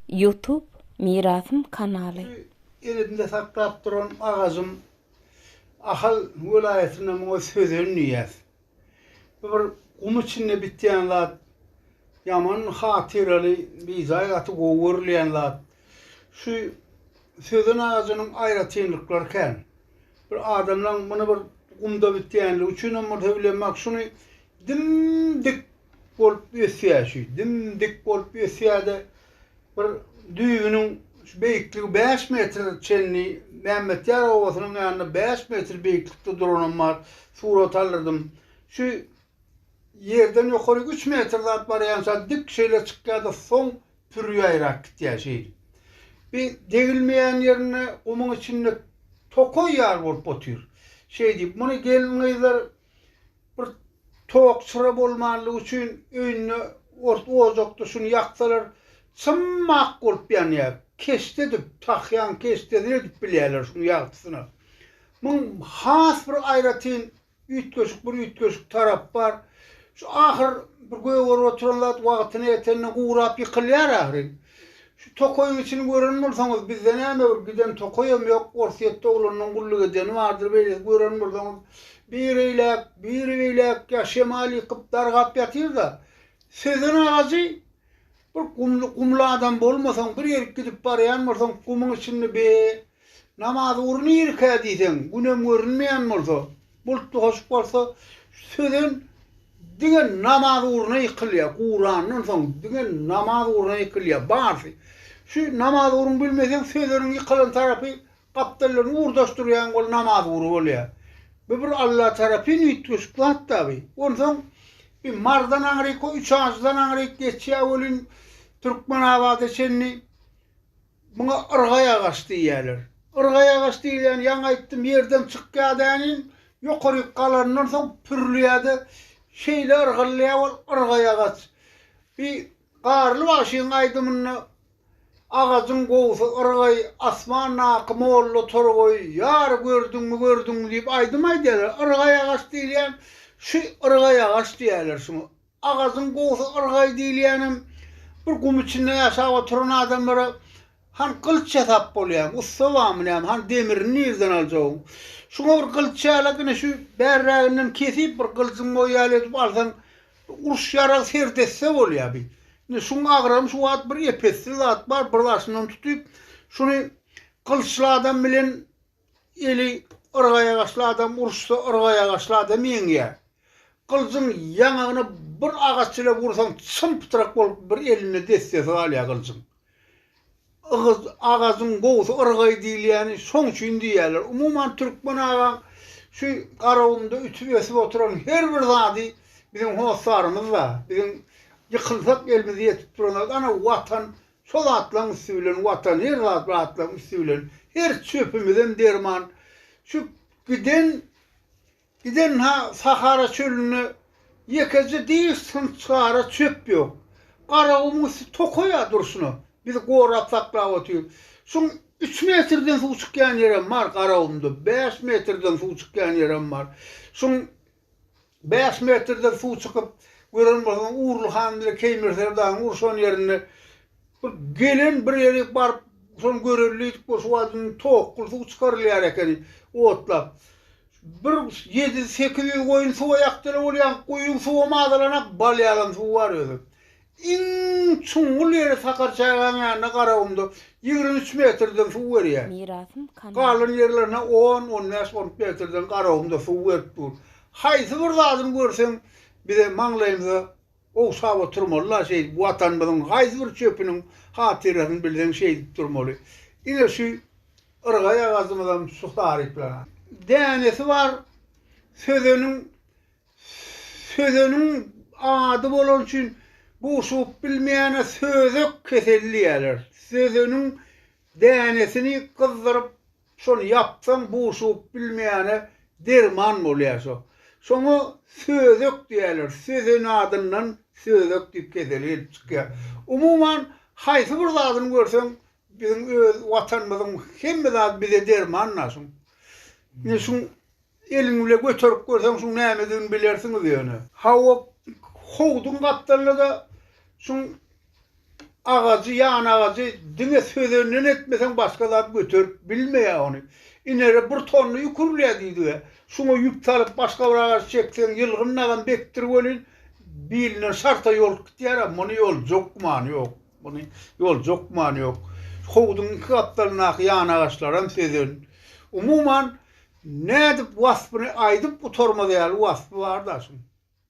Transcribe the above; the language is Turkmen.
Youtube mirasym kanaly. Elimde saklap duran agajym Ahal welaýatynda muňa sözen diýýäs. Bu bir gum içinde bitýän zat. Ýaman hatyraly, bijaý gaty gowy görülýän zat. Şu sözen agajynyň aýratynlyklary kän. Bir adamlaň muny bir gumda bitýänligi üçinem bolsa bilenok, şuny dim-dik bolup ösýär şu dim dik bolup ösýärde bir düýbüniň şu beýikligi bäş metr çenli mämmetýar obasynyň ýanynda bäş metr beýiklikde duranam bar surat aldyrdym şu ýerden ýokaryk üç metr zat barýan şa dik şeýle çykýarda soň pürýaýrak gitýär şeýdip bi degilmeýän ýerinde gumuň içinde tokaý ýaly bolup otyr şeýdip muny gelin gyzlar Bir tok çyra bolmanlygy üçin öýünde ors ojakda şuny ýaksalar çym ak bolup ýanýar. Keşde edip, tahýaň keşdesini edip bilýärler şuny ýagtysyna. Muň has bir aýratyn üýtgeşik bir üýtgeşik tarapy bar. Şu ahyr bir gögerip oturan zat wagtyna ýetende gurap ýykylýar ahyryn. Şu tokaýyň içini gören bolsaňyz, bizde näme bir giden tokaýam ýok, Orsýetde oglanynyň gulluk edeni bardyr, beýleki gören bolsaňyz, biri eýläk, biri beýläk ýa şemal ýykyp, dargap ýatyr-da. Sözen agajy bir gumly, gumly adam bolmasaň, bir ýerik gidip barýan bolsaň, gumuň içinde be, Namaz ugry nirkä diýseň, günem görünmeýän bolsa, bultly hoşup bolsa, sözen diňe namaz ugruna ýykylýar, gurandan soň diňe namaz ugruna ýykylýar, barsy. Şu namaz ugruny bilmeseň, sözeniň ýykylan tarapy gapdallaryny urdaşdyrýaň, ol namaz ugry bolýar. Bu bir Alla tarapyn üýtgeşik zat-da bu. Onsoň bi Marydan aňryk, o Üçajydan aňryk geçýär welin, Türkmenabada çenli Muňa yrgaý agaç diýýärler. Yrgaý agaç diýilýän ýaňy aýtdym ýerden çykýar däniň ýokaryk galanyndan soň pürlýärde şeýle yrgylýar ol yrgaý agaç. Bi Garly bagşyň aýdymynda Agajyň gowusy yrgaý asmandaky molla torgaý ýar gördüňmi gördüňmi diýip aýdym aýdýarlar. Yrgaý agaç diýilýän şu yrgaý agaç diýýärler şuňa. Agazyň gowusy yrgaý diýilýänem, bir gum içinde ýaşap oturan adamlara han gylyç ýasap bolýamy, ussa barmy näme, han demirini nireden aljagyň. Şuňa bir gylyç ýalak, ine şu bärräginden kesip bir gylyjyň boýy ýaly edip alsaň, uruş ýaragy sert etse bolýa bi. Indi şuň agrabyny şu wagt bir ep-esli zat bar, bir daşyndan tutyp, şuny gylyçly adam bilen Eli yrgaýagaçly adam uruşsa yrgaýagaçly adam ýeňýär. Gylyjyň ýaňagyna bir agaç ile ursaň çym-pytrak bolup bir elinde dessesi galýar gylyjyň. Ygyz agajyň gowusy yrgaý diýilýäni şoň üçin diýýärler. Umuman türkmen agaň şu Garagumda ütüp ösüp oturan her bir zady biziň hossarymyz-da, biziň ýykylsak elimize ýetip duran zat ana Watan Şo zatlaň üsti bilen Watan her zat zatlaň üsti bilen her çöpümizem derman şu giden giden ha sahara çölünde ýekeje diş synçgara çöp ýok. Garagumyň üsti tokaý ýa durşuna biz gorap saklap otyr. Şuň üç metrden suw çykýan ýerem bar garagumda bäş metrden suw çykýan ýerem bar. Şuň Bäş metrden suw çykyp, gören bolsaň, Urly han bilen Keýmirser dagyň urşan ýerinde bir gelen bir ýeri baryp, şony görelidik bolsa, şu wagt indi towakgyl suw çykarylýar ekeni, otlap. Bir ýedi-sekiz ýüz goýun suwa ýakdylar, ol ýaňky guýyň suwam azalanak, balýagam suw bar özem. Iň çuňňul ýeri Sakarçagaň ýanynda Garagumda ýigrimi üç metrden suw berýär. Galan ýerlerine on, on bäş, on üç metrden Garagumda suw berip dur. Haýsy bir zadyny görseň, bize maňlaýymyza ogşap oturmaly-la şeýdip, Watanymyzyň haýsy bir çöpüniň hatyrasyny bilseň şeýdip durmaly. Ine şu yrgaýagazymyzam şu taryplanany. Dänesi bar, sözeniň Sözeniň ady bolany üçin guşugyp bilmeýäne sözek keseli diýýärler. Sözeniň dänesini gyzdyryp, şony ýapsaň guşugyp bilmeýäne derman bolýar şo. Şoňa sözek diýýärler. Sözen adyndan sözek diýip keseli gelip çykýar. Umuman, haýsy bir zadyny görseň, Biziň öz watanymyzyň hemme zady bize derman daşyň. Ine şuň eliň bile göterip görseň şuň nämedigini bilersiňiz ýöne. Hawa howduň gapdalynada şuň agajy ýan agajy diňe sözenden etmeseň başga zat göterip bilmeýä ony. Inere bir tonna ýük urulýa diýdiga şuňa ýüp salyp başga bir agaç çekseň ýylgyn nagam bekdir welin bilinden şarta ýolup gitýärä muny ýoljak gümany ýok. Muny ýolda hökman ýok. Howzuň iki gapdalyndaky ýanagaçlaram sözen. Umuman, nädip waspyny aýdyp gutarmaz ýaly waspy bar daşyň.